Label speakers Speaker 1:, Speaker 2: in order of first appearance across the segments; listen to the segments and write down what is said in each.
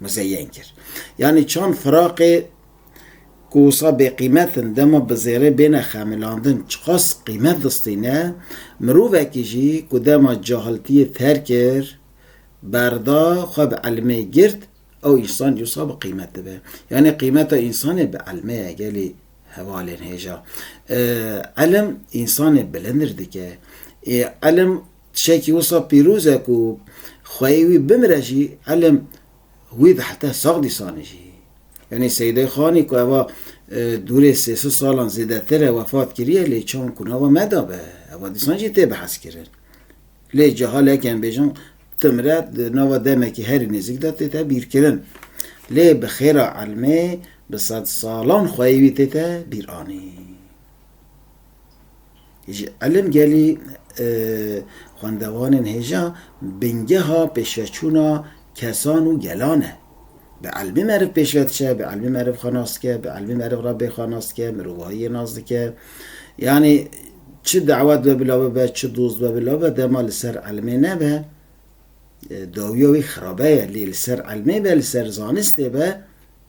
Speaker 1: muzeyen kir. Yanî çand firaqê ku wisa bêqîmet in dema bi zêrê bêne xemilandin çiqas qîmet distîne, mirovekî jî ku dema cahiltiyê terk kir, berda, xwe bi ilmê girt, ew însan dîwsa bi qîmet dibe. Yanî qîmeta însanê bi ilmê ye gelê hevalên hêja. Ilim însanê bilindir dike. Ilim Tişekî wisa pîroz e ku xweyê wî bimire jî elm wî bi heta sax dîsanê jî. Yanî Seyîdê Xanî ku eva dûrê sê sed salan zêdetir e wefat kiriye lê çawan ku nava me da be eva dîsan jî tê biheskirin. Lê cehalek yên bêjin timre di nava demekî herî nêzik de tête bîrkirin. Lê bi xêra elmê bi sed salan xweyê wî tête bîranîn. Ji Elmgelî xwendevanên hêja bingeha pêşveçûna kesan û gelan e. Bi elmî meriv pêşve diçe, bi elmî meriv xwe nas dike, bi elmî meriv re bê xwe nas dike, mirovahiyê nas dike. Yanî çi dawet be bila bibe, çi doz be bila bibe dema li ser elmê nebe dawiya wî xirabe ye. Lê li ser elmê be, li ser zanistê be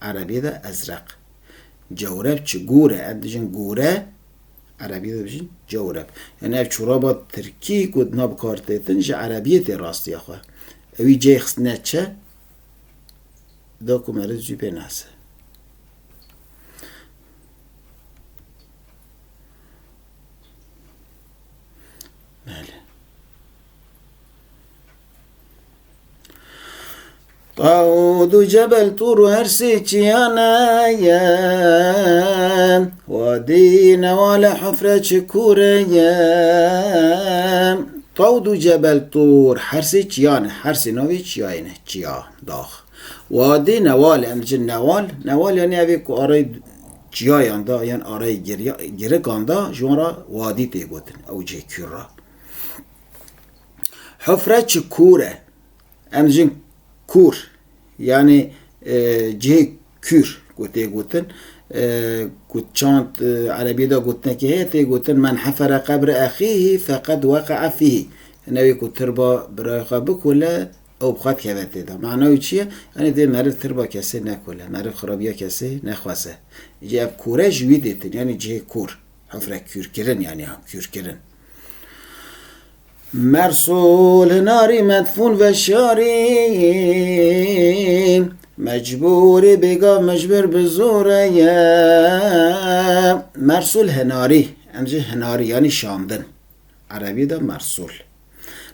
Speaker 1: Erebî de ezreq. Cewreb çi gûr e. Em dijin gûre Erebî de dijin cewreb. Yanî ev çoraba tirkî ku dina bikartêtin ji Erebîyê tê rastiya xwe. Ewî ceyê xistine çi ye? Da ku meriv zû pê nase. Tawud û Cebel Tûr û her sê çiyane ye Wadî Newale Hifre çi kûre ye Tawud û Cebel Tûr her sê çiyan e her sê navê çiyayê ne çiya dax Wadî Newale em diçin Newal Newal yanî ev ê ku areyê çiyayan de yan areyê girikan de ji wan re wadî tê gotin ew cihê kûr re. Hofre çi kûr e. Em jin kûr yanê cihê kûr ku tê gotin ku çand erebî de gotinekê heye tê gotin men hefere qebre exîhî feqed weqea fîhî. Hine wê ku tirba birayê xwe bikole ew bi xwe dikeve tê de. Mana wî çi ye? Yanê divê meriv tirba kesê nekole. Meriv xirabiya kesê nexwaze. Îcî ev kûre ji wî dê tin yanê cihê kûr. Hofre kûrkirin yanê kûrkirin. Mersul hinarî medfûn veşarî Mecbûrî bêgav mijbir bi zor e ye Mersul hinarî em ji hinarî yanî şandin erebî de mersul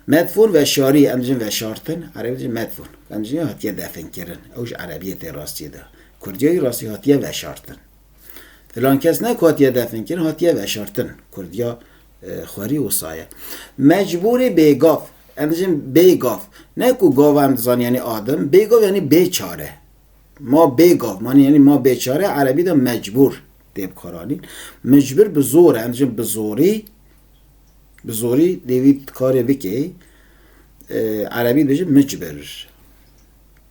Speaker 1: Medfûn veşarî em dijin veşartin erebî dijin medfûn em dijî hatiye definkirin ew ji erebiyê tê rastiyê de kurdiyê jî rastî hatiye veşartin. Filan kes ne ku hatiye definkirin, hatiye veşartin. Kurdiya xwerî wisa ye. Mecbûrî bêgav. Em dijîn bêgav. Ne ku gav em dizanî yanî adim, bêgav yanî bêçare. Ma bêgav manî yanî ma bêçare erebî de mecbûr tê bikaranîn. Micbir bi zor e. Em dijîn bi zorî bi zorî dê wî karê bikê. Erebî dijîn micbir.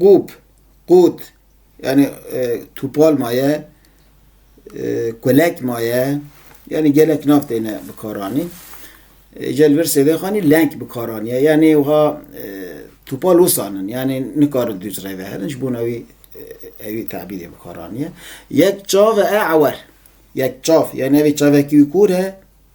Speaker 1: Qûb, qût yanî tûpal maye, kulek maye yanî gelek nav têne bikaranîn. Îcar li vir sêvên xwe anî leng bikar anîye yanî wiha tûpal wisa in yanî nikarin dû ji rê ve herin ji bo wî ewî tebîrê bikar anîye. Yek çav e ewer, yek çav yanî çavekî wî kûr e.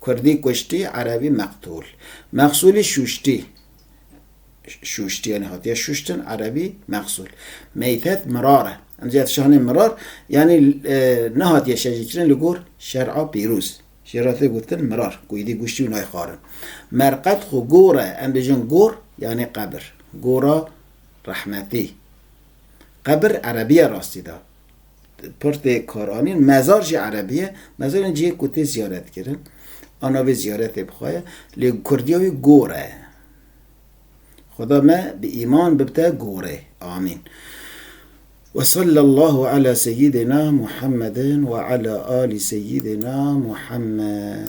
Speaker 1: Kurdî kuştî, erebî meqtûl. Mexsûlî şûştî, şûştî yanî hatiye şûştin, erebî, mexsûl. Meytet mirar e. Îmzîya tişanê mirar yanî nehatiye şejîkirin li gor şer'a pîrûz. Jê re tê gotin mirar ku êdî guştî û nayê xwarin. Merqet xwe gor e. Em bêjin gor yanî qebir. Gora rehmetî. Qebir erebî ye rastî de. Pirtê Koranî mezar jî erebî ye. Mezar ên cihê ku tê ziyaretkirin a navê ziyaretê bi xwe ye. Lê kurdiya wî gor e. Xuda me bi îman bibite gorê. Amîn. Ve sallallahu ala seyyidina Muhammedin ve ala ali seyyidina Muhammed.